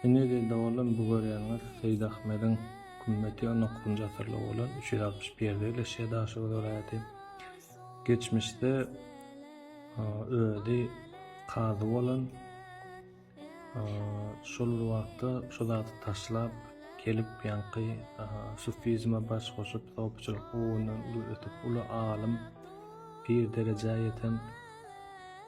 Indi dilde bolan bu görýäniňiz Seýit Ahmediň kümmeti on dokuzynjy asyrda bolan üç ýüz altmyş bir ýerde ýerleşýär Daşoguz welaýaty. Geçmişde özi kazy bolan şol bir wagtda şu zady taşlap gelip ýaňky sufizme baş goşup sopyçylyk ugrundan uly ösüp uly alym pir derejä ýeten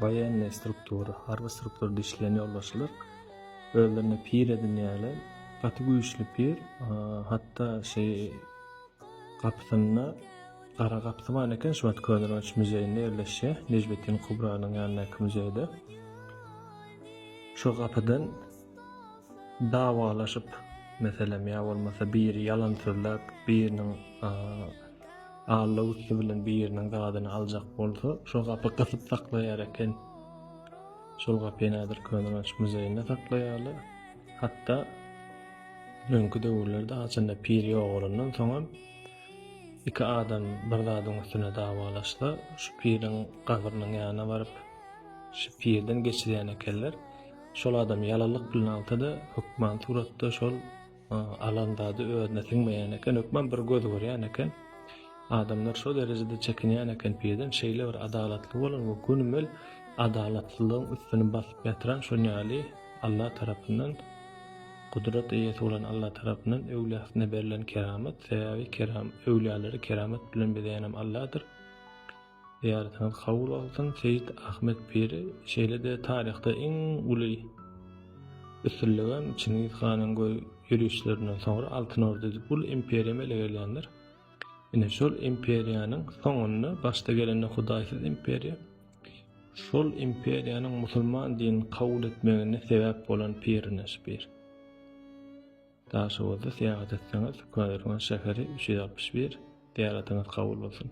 Waýenni struktur, harby struktur dişlän ýolbaşçylar özlerine pir edinýärler. Gaty güýçli pir, hatda şeý gapysynda gara gapysy bar eken, şu wagt Köneürgenç muzeýinde ýerleşýär, Nejmetdin Kubranyň ýanyndaky muzeýde. Şu gapydan dawalaşyp, meselem, ýa bolmasa biri ýalan sözläp, biriniň Alla üsti bilen biriniň zadyny aljak bolsa, şo gapy gysyp saklaýar eken. Şol gapy häzir Köneürgenç muzeýinde saklaýarlar. Hatda öňki döwürlerde haçanda pir ýogalandan soňam iki adam bir zadyň üstüne dawalaşsa, şu piriň gabrynyň ýanyna baryp, şu pirden geçirýän ekenler. Şol adam ýalanlyk bilen alsa-da, hökman suratda şol Alan zady özüne siňmeýän eken, hökman bir göz görýän eken. Adamlar şo derejede çekinýän eken peden, şeýle bir adalatly bolan we günübel adalatsyzlygyň üstüni basyp ýatyran şonýaly Alla tarapyndan Gudrat eýesi bolan Alla tarapyndan öwliýasyna berlen keramat, sebäbi keram öwliýalary keramat bilen bezeýänem Alladyr. Zyýaretiňiz kabul bolsun Seýit Ahmet Piri şeýle-de taryhda iň uly üstünligem Çingiz hanyň göz ýörişlerinden soňra Altyn Orda edip uly imperiýa emele gelýändir. Ine şol imperiýanyň soňunda başda gelende hudaýsyz imperiýa şol imperiýanyň musulman dinini kabul etmegine sebäp bolan pirine şu pir. Daşoguzda syýahat etseňiz Köneürgen şäheri üç ýüz altmyş bir zyýaratyňyz kabul bolsun.